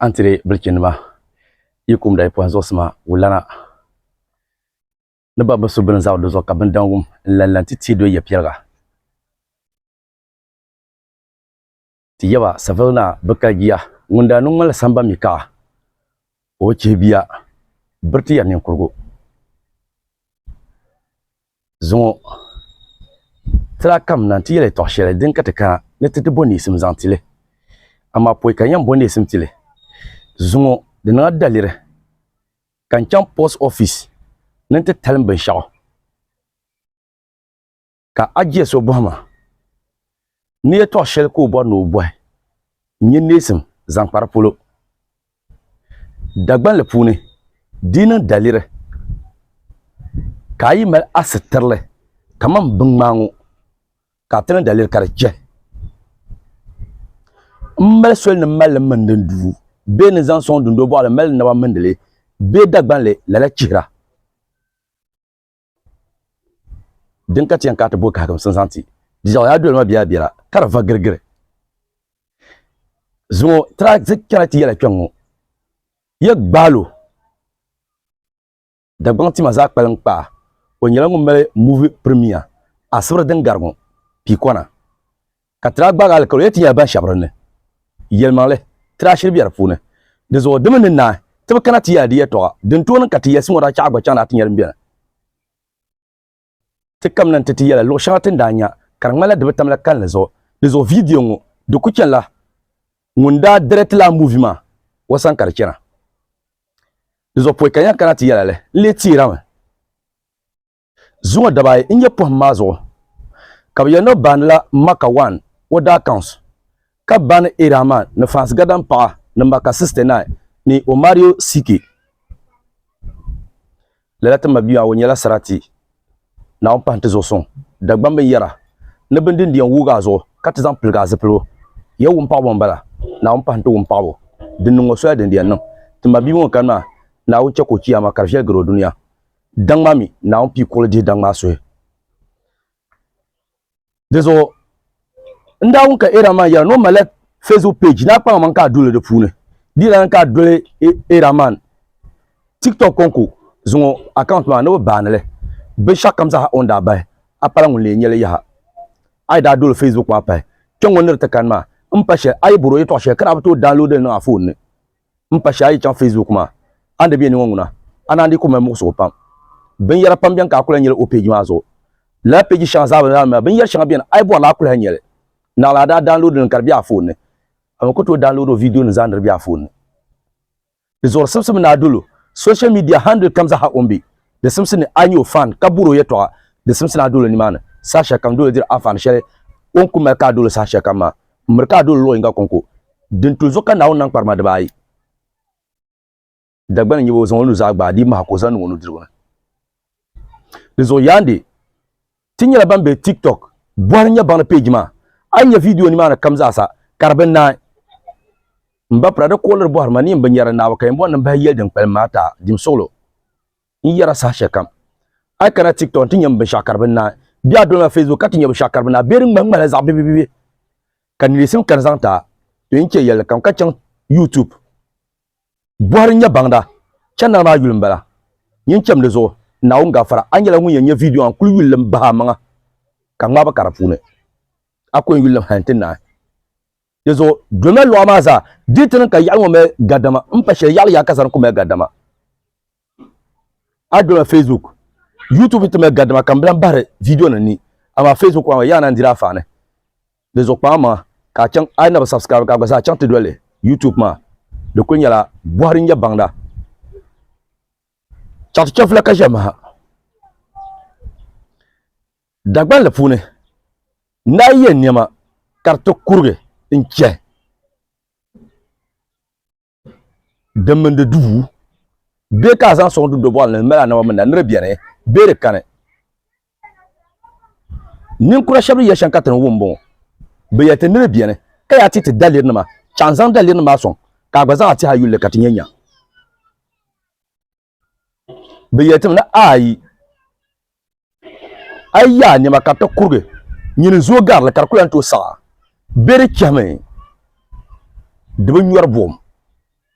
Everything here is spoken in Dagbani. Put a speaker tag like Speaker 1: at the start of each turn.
Speaker 1: an tiri bilichɛnima yi kumda yi pɔhim zuɣusima wulana ni ba bi su bini zaɣ do zuɣu ka bindawum n lan lan ti teei do ya piɛliga ti yaba savili naa bi kali giya ŋun daa niŋ ŋmali samba mi kaɣa o chihi biya biriti ya ninkurigu Zuŋɔ, ti daa kam na nti yɛl ya tɔɣ shɛli din ka ti kana ni ti di bɔ neesim zaŋ ti li. Amaa pɔi ka n yɛn bɔ neesim ti li. Zuŋɔ, di niŋ a daliri ka n chaŋ post office ni nti talim binshɛɣu ka a jia so bɔhi ma. Ni yɛtɔɣ shɛli ka o bɔri ni o bɔhi n-nyɛ neesim zaŋ kpari polo. Dagbanli puuni, di yi niŋ daliri ka a yi mali a sitirili kaman biŋmaa ŋɔ ka a ti niŋ daliri ka di chɛ m mali soli ni m mali li mindi n duu bee ni zaŋ sɔŋ dundoli bɔɣili mali n naba mindi li bee Dagbanli lala chihira. din ka ti yɛn ka ti bo kahigimsim zaŋ ti jijɛɣu yaa dolima biɛla biɛla ka di va girigiri zuŋɔ tira ti chɛna ti yɛla kpɛŋŋɔ ya gbaalo Dagbaŋ tima zaa kpalim kpaa o nyɛla ŋun mali muvi pirimiya asibiri din gari ŋɔ piikɔna Ka tira gbaagi alikauli yɛli ti nyɛla ban shɛbi di ni. Yɛlimaŋli, tira ashiri be di puuni. Di zuɣu di mi ni naai ti bi kana ti yɛla di yɛtɔɣa din tooi niŋ ka ti yɛlisi ŋɔ daa chaɣi gba chaŋ daa ti nyɛ din beni. Ti kamina nti ti yɛla luɣ shɛŋa ti ni daa nya ka di ŋmanila di bi tamla kalinli zuɣu. Di zuɣu viidiyo ŋɔ di ku chanila ŋun daa dirɛtila a muuvi maa wa sani ka di chana. Di zuɣu pɔi ka n yɛn kana ti yɛla li n-lee teerami. Zuŋɔ dabaa ayi n-nyɛ pɔhim maa zuɣu ka bɛ yɛli ni o baanila Maka wan o daa kaunsi ka baani Irahman ni Faans Gadan paɣa ni Maka 69 ni Omario Sike. Lala ti mabia maa o nyɛla sarati Naawuni pahi nti zuɣu suŋ Dagbaŋ binyɛra ni bindin di yɛn wuugi a zuɣu ka ti zaŋ piligi a zipiligu. Yɛ wumpaɣibo m-bala Naawuni pahi nti wumpaɣibo din niŋ o soya din di yɛn niŋ ti mabia ŋun kani maa Naawuni chɛ ka o chiyaama ka di viɛli gari o dunia. daŋ maa mi Naawuni pii kuɣili dihi daŋ maa suhi. Dizuɣu n daa wum ka Eeraman yɛra ni o malila Facebook page ni a kpaŋ maŋ ka a duli di puuni. Di yɛla ni ka a doli Eeraman TikTok kɔŋko zuŋɔ account maa ni bi baani li binshɛɣukam zaa o ni daa bahi a pala ŋun lee nya li yaha. A yi daa doli Facebook maa pahi kpɛŋŋɔ ni di ti kani maa m-pa shɛli a yi bɔri o yɛtɔɣ shɛli ka daa bi tooi download li niŋ a foon ni. n pa shɛli a yi chaŋ Facebook maa a ni di bɛ ni ŋɔ ŋuna a naan di kuli mali muɣisigu pam binyɛra pam bɛni ka a kuli nyɛli o peeji maa zuɣu lala peeji shɛŋa zaa bɛ ni maa binyɛri shɛŋa bɛni a yi bɔrila a kuli ha nyɛli naɣila a daa daanloodi li ka di bɛ a foon ni a mi ku tooi daanloodi o viidiyo nim zaa ni di bɛ a foon ni di zuɣuri simsi mi ni a dolo social media handle kam zaha o ni bɛ di simsi ni a nyɛ o fan ka buri o yɛtɔɣa di simsi ni a dolo nimaani saha shɛli kam dolo diri anfaani shɛli o ni kuli mali ka a dolo saha shɛli kam maa miri ka a doli luɣ yinga kɔŋko din tu zuɣu ka Naawuni niŋ kparima dibaayi. Dagbani n-nyɛ ba, o zaŋ o nuzaa gbaai di maha ka o zaŋ niŋ o nudirigu ni. Di zuɣu yaandi, ti nyɛla ban be TikTok bɔhiri nyɛbaŋli peeji maa. A ni nya viidiyo nimaani kam zaasa ka di bi naai. M ba Prada kuɣiliri bɔhiri ma ni yin bi nyari Naawuni ka yin bɔri ni m bahi yɛli din kpalim maa ti a jimsuɣilo. n yɛra saha shɛli kam a yi kana tiktok n ti nyɛmi binshaɣu ka di bi naai bɛ a dolima facebook ka ti nyɛ binshaɣu ka di bi naai bɛ di ŋmahi ŋmahila zaɣ bibibibi ka neesim kani zaŋ ti a to yɛn chɛ yɛlli kam ka chaŋ youtube bɔhiri nyɛ baŋda chɛnana maa yuli m-bala yɛn chɛm di zuɣu Naawuni gafara a nyɛla ŋun yɛn nyɛ viidiyo maa n kuli yuli lim bahi a maŋa ka ŋmaai ba ka di puuni a ku yɛn yuli lim hali nti naai di zuɣu dolima luɣa maa zaa di ti niŋ ka yaɣili ŋɔ mali gadama m pa shɛli yaɣili yaha ka zani ku mali gadama a dɔla facebook youtube ti mali gadima ka n bilan bahiri video nim ni amaa facebook maa yaa na n diri a faani di zuɣu kpaam maŋa ka a chaŋ a na bi subscribe ka a gba zaa chaŋ ti doli youtube maa di kuli nyɛla bɔhiri n nyɛ baŋda chaŋ ti chɛfula ka ʒɛmi ha dagbanli puuni na yɛ niɛma ka di ti kurigi n chɛ din mini di duu bɛ ka a zaŋ soŋ dundo bɔɣili ni di mali anaba mini na ni di bɛni bee di kani ninkura shɛba ni yɛli shɛm ka ti ni wum m-bɔŋɔ bɛ yɛli ti ni di bɛni ka yaa ti ti dalirinima chaŋ zaŋ dalirinima maa soŋ ka a gba zaŋ a tihi a yuli ni ka ti nya nya Bɛ yɛlitimi ni, Ayi! A yi yaai nɛma ka di ti kurigi, nyini zooi gari li ka di kul lan tooi saɣi a. Bɛ di chɛhimi di bi nyɔri buɣim.